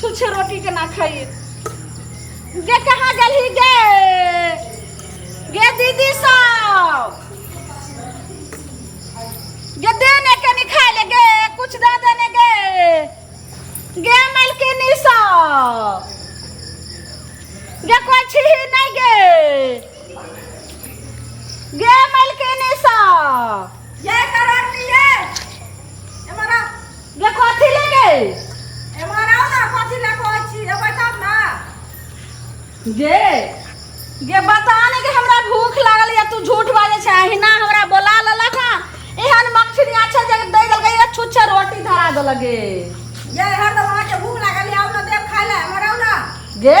छुच्छे रोटी केना खाइए गे कहाँ गेलही गे गे दीदी सब गे दे ने कनी खाय ले गे कुछ दे दे ने गे गे मलकिनी सब गे कोई छिही नहीं गे गे मलकिनी सब ये कर आदमी ये एमारा ये कथी ले गए एमारा ना कथी ले को छी ए बताब ना गे गे बता ने कि हमरा भूख लागल या तू झूठ बाजे छै अहिना हमरा बोला ललक हां एहन मक्खी अच्छा जगह दे देलकै या छुच्छे रोटी धरा देलक गे ये हर दवा के भूख लागल या ना देख खाय ले एमारा ना गे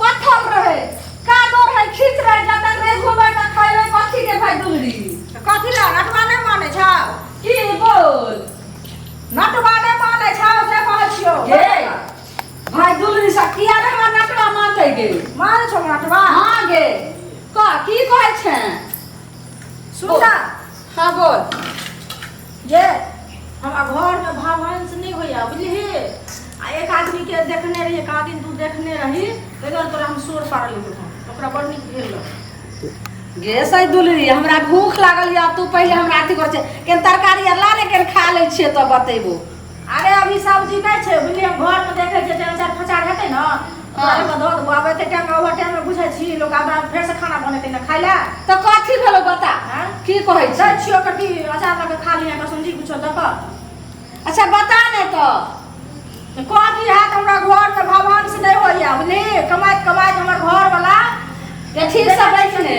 पत्थर रहे कादो रहे खींच रहे जाता रे घूमे का खाइले कथी के भाई दुलरी कथी ला नटवा नहीं माने छा की बोल नटवा नहीं माने छा जे कहे छियो के भाई दुलरी सा किया रे हमरा नटवा मानते गे माने छो नटवा हां गे का की कहे छे सुन हाँ बोल जे हमरा घरमे भवंश नहि होइए बुझलिही आ एक आदमीके देखने रही एक आदमी तू देखने रही ताहि दुआरे तोरा हम शोर पाड़ल गेलहुँ ओकरा बड़ नीक भेल रहौ गे सही दुलरी हमरा भूख लागल यऽ तू पहिले हमरा अथी कर छै केन तरकारी आर ला ले केन खा लै छियै तऽ बतेबो अरे अभी सब्जी नहि छै बुझलियै घरमे देखै छियै जे अचार फचार हेतै ने ओकरा दऽ देबो आब एते टाइम ओवर टाइममे बुझै छी लोक आब फेरसँ खाना बनेतै ने खाय लए तऽ कथी भेलो बता की कहै छै छियो कथी अचार लऽ कऽ खा लिअ कसम जी किछो दऽ कऽ अच्छा बता ने तऽ कथी हैत हमरा घरमे भगवानसँ नहि होइए बुझली कमाइत कमाइत हमर घरवला अथी सब बैठने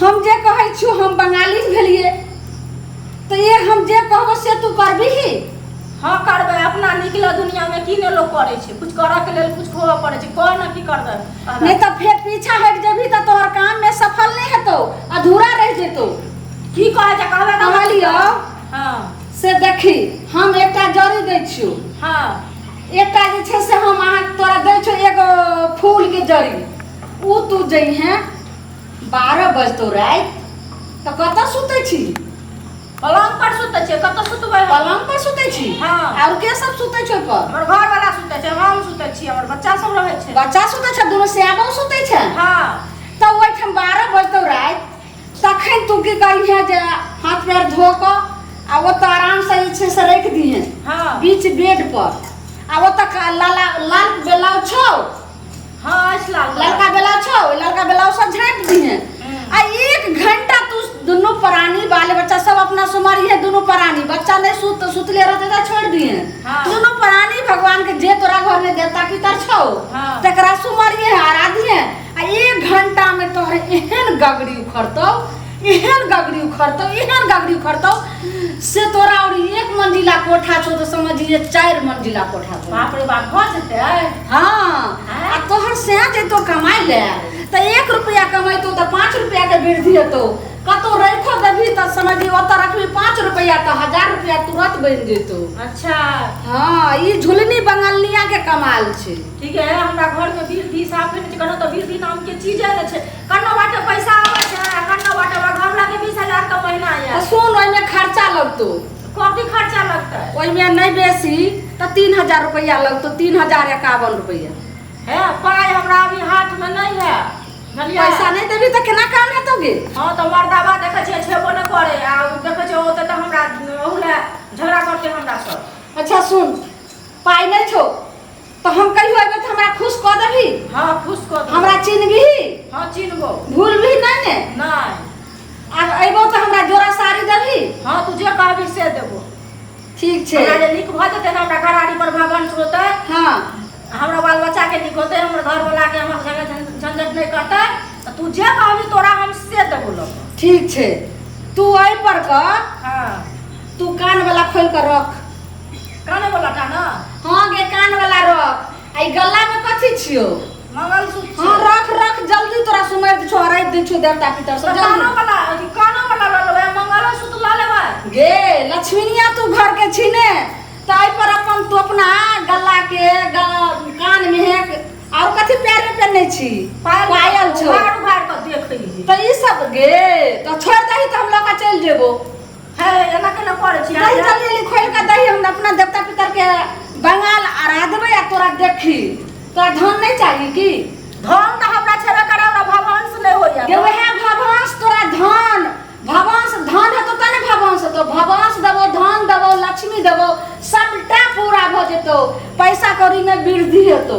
हम जे कहै छियो हम बंगाली भेलिए तो ये हम जे कहबो से तू करबी ही हां करबे अपना निकले दुनिया में की ने लोग करे छे कुछ करे के लेल कुछ खोवा पड़े छे कह ना की करबे नहीं तो फिर पीछा हट जेबी तो तोहर काम में सफल नहीं हेतो अधूरा रह जेतो की कहे जे कहबे तो कहलियो हां से देखी हम एकटा जड़ी दै छियो हां एकटा जे छे से हम अहाँ तोरा दै छियो एगो फूल के जड़ी उ तू जई है बारह बजतो राति तऽ कतऽ सुतै छी पलंग पर सुतै छै कतऽ सुतबै हम? पलंग पर सुतै छी हाँ। आओर के सब सुतै छै ओहिपर हमर घर वाला सुतै छै हम सुतै छी हमर बच्चा सब रहै छै बच्चा सुतै छै दुनू सैबो सुतै छै हँ तऽ ओहिठाम बारह बजतौ राति तखन तू की करिहे जे हाथ पैर धो कऽ आ ओतऽ आरामसँ जे छै से राखि दिहे हँ। बीच बेड पर आ ओतऽ का- लाला लाल ब्लाउज छौ हाँ अछि लाल कलर ललका ब्लाउज छौ ओहि ललका ब्लाउज सब झाँपि दिहे आ एक घंटा तू दुनू प्राणी बाल बच्चा सब अपना सुमरिहे दुनू प्राणी बच्चा नहीं सुत तो सुतले रहते तो छोड़ दिए हाँ। दुनू प्राणी भगवान के जे तोरा घर में देवता पितर छौ हाँ। तकरा सुमरिहे आराधिहे आ एक घंटा में तोहर एहन गगरी उखड़तौ एहन गगरी उखड़तौ एहन गगरी उखड़तौ से तोरा और एक मंजिला कोठा छौ तो समझिए चार मंजिला कोठा छौ बाप रे बाप भऽ जेतै हाँ आ तोहर से जैतो कमाइ ले तो एक रुपया कमैतो तो पाँच रुपया के वृद्धि हेतौ कतौ रखो देबही तो समझिए ओतऽ रखबी पाँच रुपया तो हजार रुपया तुरंत बनि जेतौ अच्छा हाँ ई झुलनी बंगलिया के कमाल छै ठीक है हमरा घर में बीर भी साफ नहि छै कोनो तऽ बीर भी नाम के चीजे नहि छै कन्नो बाटे पैसा आवे छै आ कन्नो बाटे हमरा घर लगे बीस हजार का महीना आ आया सुन ओहिमे खर्चा लगतो कथी खर्चा लगतै ओहिमे नहि बेसी तऽ तीन हजार रुपैआ लगतो तीन हजार एकावन रुपैआ हे पाइ हमरा अभी हाथ में नहीं है बुझलियै पैसा नहि देबी तऽ केना काम हेतौ गे हाँ तो मर्दाबा देखे छियै छेबो नहि करे आ उ देखे छियै ओते तऽ हमरा ओहू लए झगड़ा करते हमरा सब अच्छा सुन पाइ नहि छौ तो हम कहियो एबे तो हमरा खुश कर देबी हाँ खुश कर दो हमरा चिन्हबी हाँ चिन्हबो भूलबी नहीं ने नहीं आ अबो तो हमरा जोड़ा साड़ी देबी हाँ तू जे कहबी से देबो ठीक छे हमरा जे नीक भऽ जेतै ने हमरा घराड़ी पर भवन होतै हाँ हमरा बाल बच्चा के नीक होतै हमर घर वाला के हमर झगड़ झं- झंझट नहीं करतै तऽ तू जे कहबी तोरा हम से देबो लोग ठीक छे तू आई पर कर हाँ तू कान वाला खोल कर रख काने वाला टा ना हां गे कान वाला रख आ ई गला में कथी छियो मंगलसूत्र हां रख रख जल्दी तोरा सुमर दै छो हराइ दै छो देवता पितर सब कानो वाला अथी कानो वाला लऽ लेबै मंगलसूत्र लऽ लेबै गे लक्ष्मीनिया तू घर के छी ने ताहि पर अपन तू अपना गला के कान में है और कथी पैर में पहनने छी पायल छो उघाड़ उघाड़ के देखै तऽ ई सब गे तऽ छोड़ दही तऽ हम लऽ कऽ चलि जेबो है एना केना करे छी दही जल्दी जल्दी खोल के दही हम अपना देवता पितर के बंगाल आरा देबे आ तोरा देखी तोरा धन नहीं चाहिए की धन त हमरा छेबे करे हमरा भगवान से नहीं होइया ये वह भगवान तोरा धन भगवान से धन है तो तने भगवान से तो भगवान से देबो धन देबो लक्ष्मी देबो सबटा पूरा भ जेतो पैसा कौड़ी में वृद्धि हेतो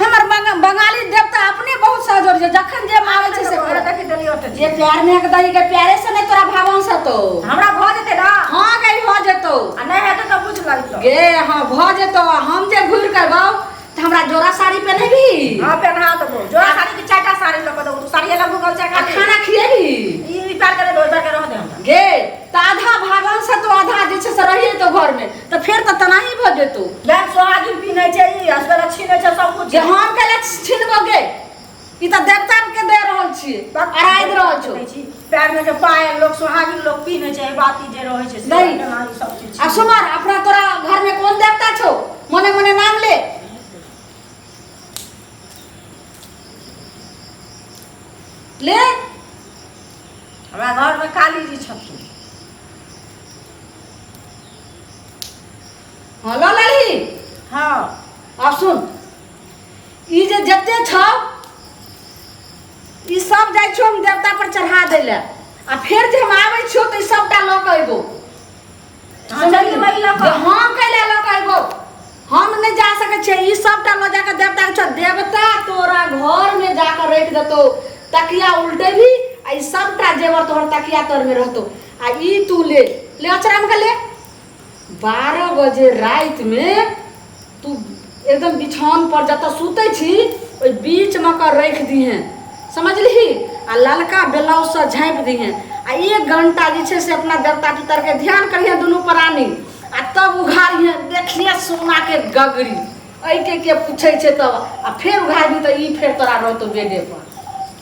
हमर बंगाली देवता अपने बहुत सहजोर छै जखन जे मांगे छै से करे देखि देली ओट जे प्यार में के दही के प्यारे से नै तोरा भावन से तो हमरा भ जेते ना हां गई भ जेतो आ नै हेते त बुझ लगतो गे हां भ जेतो हम जे घुर के बाऊ त हमरा जोरा साड़ी पहनेबी हां पहना देबो जोरा साड़ी के चाटा साड़ी लग दो साड़ी अलग गल छै खाना खिएबी ई प्यार करे दो प्यार करे रह दे गे त आधा भावन से तो आधा जे छै से रहिए तो घर में तऽ फेर तऽ तनाही भऽ जेतौ यार सोहागिन पीने छै ई असगर छीने छै सब कुछ जे हम के लक्ष छिनबो गे ई तऽ देवता के दे रहल छी अराइ दे रहल छौ छी पैर में जे पायल लोग सोहागिन लोग पीने छै ई बात ई जे रहै छै से नहीं। तनाही सब चीज आ सुमन अपना तोरा घर में कोन देवता छौ मने मने नाम ले ले हमरा घर में काली जी छथिन हँ लऽ लेली हँ आब सुन ई जे जते छौ ई सब जाइ छौ हम देवता पर चढ़ा दै लए आ फेर जे हम आबै छियौ तऽ ई सबटा लऽ कऽ अयबो हँ, चलिए भाई, लऽ कऽ। हँ कैले लऽ कऽ अयबो हम नहि जा सकै छियै ई सबटा लऽ जाकऽ देवता के छोड़ देवता तोरा घर में जाकऽ राखि देतौ तकिया उल्टेबी आ ई सबटा जेवर तोहर तकिया तर में रहतौ आ ई तू ले ले अचरा में ले बारह बजे रात में तू एकदम बिछौन पर जत सुते छी ओहि बीच में कर रख दी हैं समझली आ ललका ब्लाउज से झाँप दी हैं आ एक घंटा जे से अपना देवता पितर के ध्यान करिए दुनू प्राणी आ तब उघारिए देखिए सोना के गगरी ऐके के पूछे तब आ फिर उघारी तो ई फिर तोरा रहतो बेडे पर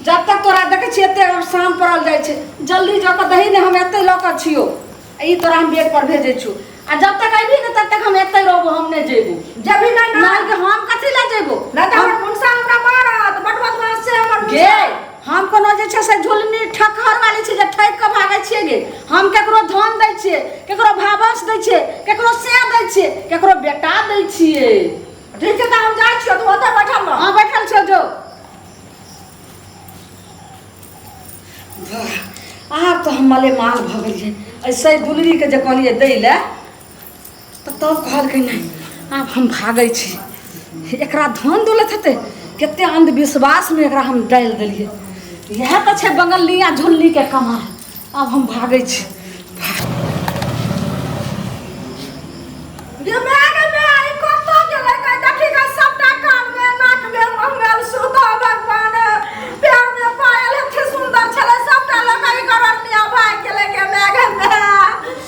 जब तक तोरा देखै छियै एते शाम पड़ल जाइ छै जल्दी जऽ कऽ दही ने हम एतै लऽ कऽ छियौ ई तोरा हम बेग पर भेजै छियौ आ जब तक अयबी ने तब तक हम एतै रहबो हम नहि जेबो जब भी नहि ना के हम कथी लए जेबो ना तऽ हमर मुनसा हमरा मारत बड बदमाश छै हमर गे हम कोनो जे छै से झुलनी ठकहर वाली छी जे ठक कऽ भागै छियै गे हम केकरो धन दै छियै केकरो भावस दै छियै केकरो से दै छियै केकरो बेटा दै छियै ठीक छै तऽ हम जाइ छियौ तू ओतऽ बैठल रह हां बैठल छौ जो आब तऽ हम मले माल भऽ गेलियै ऐसे गुलरीके जे कहलियै दै लए तऽ तब कहलकै नहि आब हम भागै छी एकरा धन दौलत हेतै कते अन्धविश्वासमे एकरा हम डालि देलियै इएह तऽ छै बंगलिया झुल्लीके कमाल आब हम भागै छी गे माय गे माय, ई कतऽ गेलै? गे देखी गे सबटा कानमे, नाकमे, मुँहमे सुधा भगवान। पैरमे पायल एते सुन्दर छलै, सबटा लऽ कऽ ई गरनिया भागि गेलै गे माय गे माय।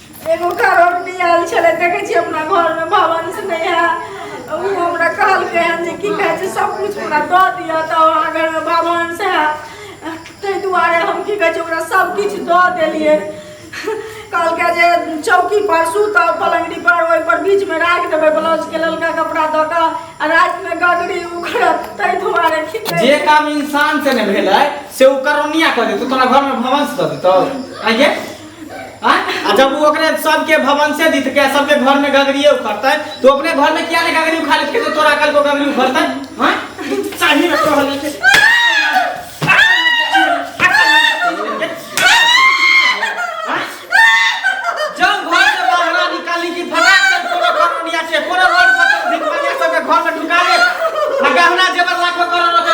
एगो घरौनी आयल छलै देखै छी अपना घरमे भवन से नहि है ओ हमरा कहलकै हन जे की कहै छै सब कुछ हमरा दऽ दिअ तऽ अहाँ घरमे भवन से है ताहि दुआरे हम की कहै छै ओकरा सब किछ दऽ देलियै कहलकै जे चौकी पर सुतऽ पलंगड़ी पर ओहि पर बीच में राख देबै ब्लाउज के ललका कपड़ा दऽ कऽ आ राति में गगरी उखड़त ताहि दुआरे की कहै जे काम इंसान से ने भेलै से ओ करोनिया कऽ देतौ तोरा घर में भवन से दऽ देतौ आइए हाँ? आ जब वो ओकरे सबके भवन से दित के सबके घर में गगरिए उखड़ते तो अपने घर में क्या ने गगरी उखाड़ लेते तो तोरा कल को गगरी उखड़ते हां सही में कहल है कि- हाँ? जब घर से बाहर निकाली कि फटाक से कोनो कॉलोनिया से कोनो रोड पर से भिखमंगिया सबके घर में ढुका ले आ गहना जेवर लाखों करोड़ों के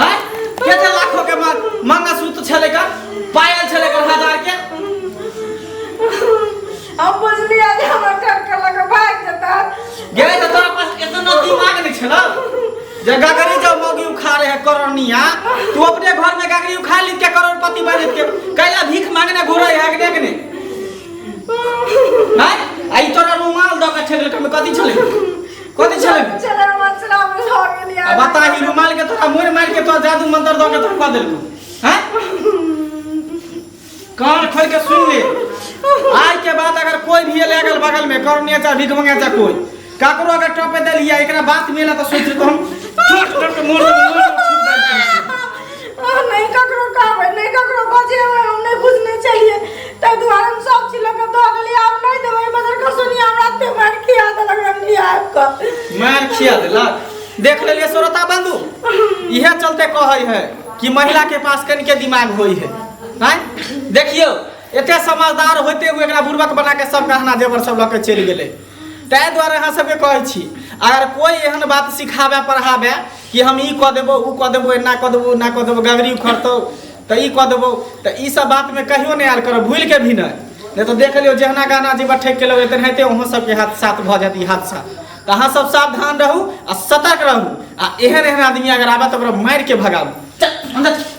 हां केते लाखो के मार मंगलसूत्र छले का पायल छले का हजार के अब बुझली आज हमरा ठक के लग भाग जता गे त तोरा पास इतना दिमाग नहीं छला जे गगरी जो मौगी उखा रहे करनिया तू अपने घर में गगरी उखा ली के करोड़पति बन के कैला भीख मांगने घुरे है के देखने हां आई तोरा रुमाल दो के छले का में कथि छले कथि छले चला मसला में लऽ गेली आ बता ई रुमाल के तोरा मोर मार के तोरा जादू मंत्र दऽ के धक्का देलकू हैं कान खोल के सुन ले आज के बाद अगर कोई भी एले अगल बगल में करनिया चाहे भीख मंगा चाहे कोई काकरो अगर टपे देलिया एकरा बात मिला तो सोच तो हम ठोक ठोक के मोड़ देब, मोड़ देब। नहि ककरो कहबै नहि ककरो बजेबै हम नहि बुझने छलियै ताहि दुआरे हम सब चीज लऽ कऽ दऽ देलियै आब नहि देबै एहि बजर कऽ सोनिया हमरा एते मारि खिया देलक रंगली आबि कऽ मार खिया देलक देख लेलिए श्रोता बंधु इहे चलते कहै है कि महिला के पास कनिके दिमाग होई है हैं देखियो एते समझदार होते हुए एकरा बुर्बक बना के सब गहना जेवर सब लऽ के चलि गेलै ताहि दुआरे अहाँ सबके कहै छी अगर कोई एहन बात सिखाबे पढ़ाबे कि हम ई कऽ देबौ ओ कऽ देबौ एना कऽ देबौ ओना कऽ देबौ गगरी उखड़तौ तऽ ई कऽ देबौ तऽ ई सब बातमे कहियो नहि आयल करब भूलि के भी नहि नहि तऽ देख लियौ जहना गाना जे ठकि के लगै तेनाहिते अहूँ सबके हाथ साथ भऽ जायत ई हादसा तऽ अहाँ सब सावधान रहू आ सतर्क रहू आ एहन एहन आदमी अगर आबे तऽ ओकरा मारि के भगाबू चल, अन्दर चल।